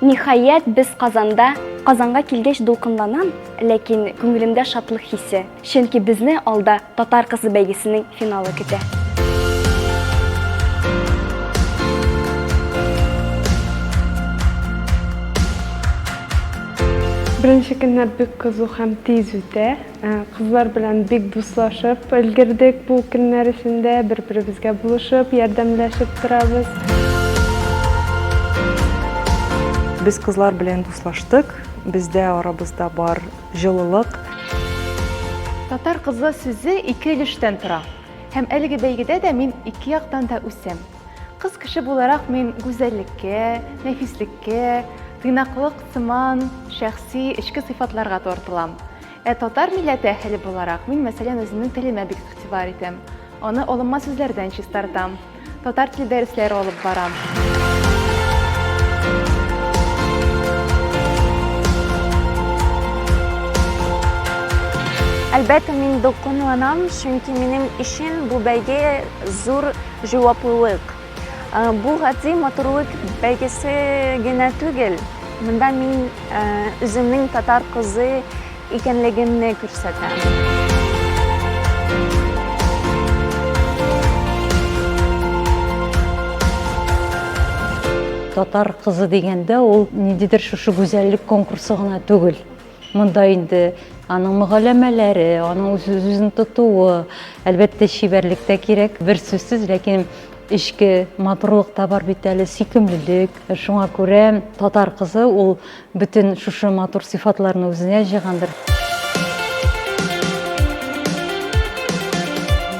Ниһаять, без Казанда Казанга килгәч дулкынланам, ләкин күңелемдә шатлык хисе, чөнки безне алда татар кызы бәйгесенең финалы көтә. Беренче көннәр бик кызу һәм тиз үтә. Кызлар белән бик дуслашып өлгердек бу көннәр эчендә, бер-беребезгә булышып, ярдәмләшеп торабыз. Без кызлар белән дуслаштык, бездә арабызда бар җылылык. Татар кызы сүзе ике өлештән тора. Һәм әлеге бәйгедә дә мин ике яктан да үсәм. Кыз кеше буларак мин гүзәллеккә, нәфислеккә, тыйнаклык сыман шәхси эчке сыйфатларга тартылам. Ә татар милләте әһеле буларак, мин, мәсәлән, үземнең телемә бик игътибар итәм. Аны алынма сүзләрдән чистартам. Татар теле дәресләре алып барам. Әлбәттә, мин дулкынланам, чөнки минем өчен бу бәйге зур җаваплылык. Бу гади матурлык бәйгесе генә түгел, монда мин үземнең татар кызы икәнлегемне күрсәтәм. Татар кызы дигәндә, ул ниндидер шушы гүзәллек конкурсы гына түгел. Монда инде аның мөгаләмәләре, аның үз-үзен тотуы, әлбәттә, чибәрлек тә кирәк, бер сүзсез, ләкин эчке матурлык та бар бит әле, сөйкемлелек. Шуңа күрә татар кызы ул бөтен шушы матур сыйфатларны үзенә җыйгандыр.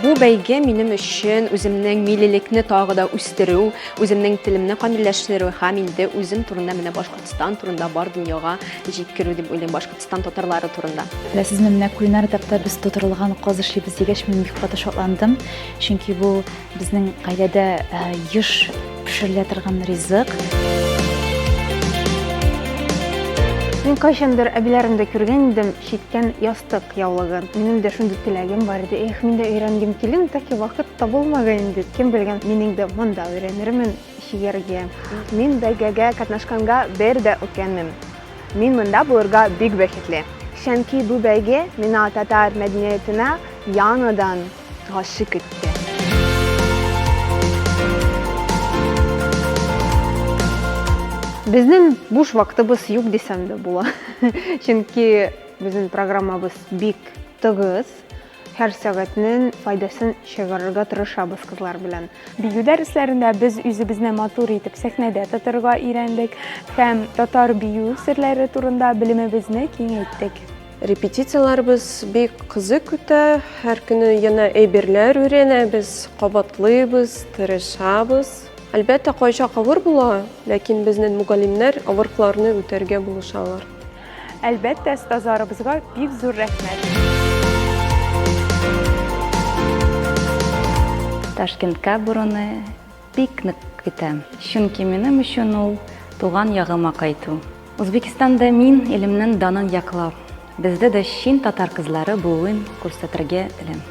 Бу бәйге минем өчен үземнең милилекне тагы да үстерү, үземнең телемне камилләштерү һәм инде үзем турында менә башка Татарстан турында бар дөньяга җиткерү дип уйлыйм, Башкортстан татарлары турында. Беләсезме, менә кулинар этапта без тутырылган каз эшлибез дигәч, мин бик каты шатландым, чөнки бу безнең гаиләдә э, еш пешерелә торган ризык. Мин кайчандыр әбиләремдә күргән идем читкән ястык яулыгын. Минем дә шундый теләгем бар иде. Эх, мин дә өйрәнгем килен, тәки вакыт табылмаган инде. Кем белгән, минем дә монда өйрәнермен. Чиергә. Мин бәйгегә катнашканга бер дә үкенмим. Мин монда булырга бик бәхетле. Чөнки бу бәйге миңа татар мәдәниятенә яңадан гашыйк итте. Безнең буш вакытыбыз юк дисәм дә була. Чөнки безнең программабыз бик тыгыз. Һәр сәгатьнен файдасын чыгарырга тырышабыз кызлар белән. Бию дәресләрендә без үзебезне матур итеп сәхнәдә тотырга өйрәндек һәм татар бию серләре турында белемебезне киңәйттек. Репетицияләребез бик кызык үтә, һәр көне яна әйберләр өйрәнәбез, кабатлыйбыз, тырышабыз. Әлбәттә, кайчак авыр була, ләкин безнен мугалимнәр авыркларны үтәргә булышалар. Әлбәттә, стазарыбызга бик зур рәхмәт. Ташкентка баруны бик нык көтәм. Чөнки минем өчен ул туган ягыма кайту. Үзбекстанда мин илемнең данын яклап, бездә дә чын татар кызлары булуын күрсәтергә телим.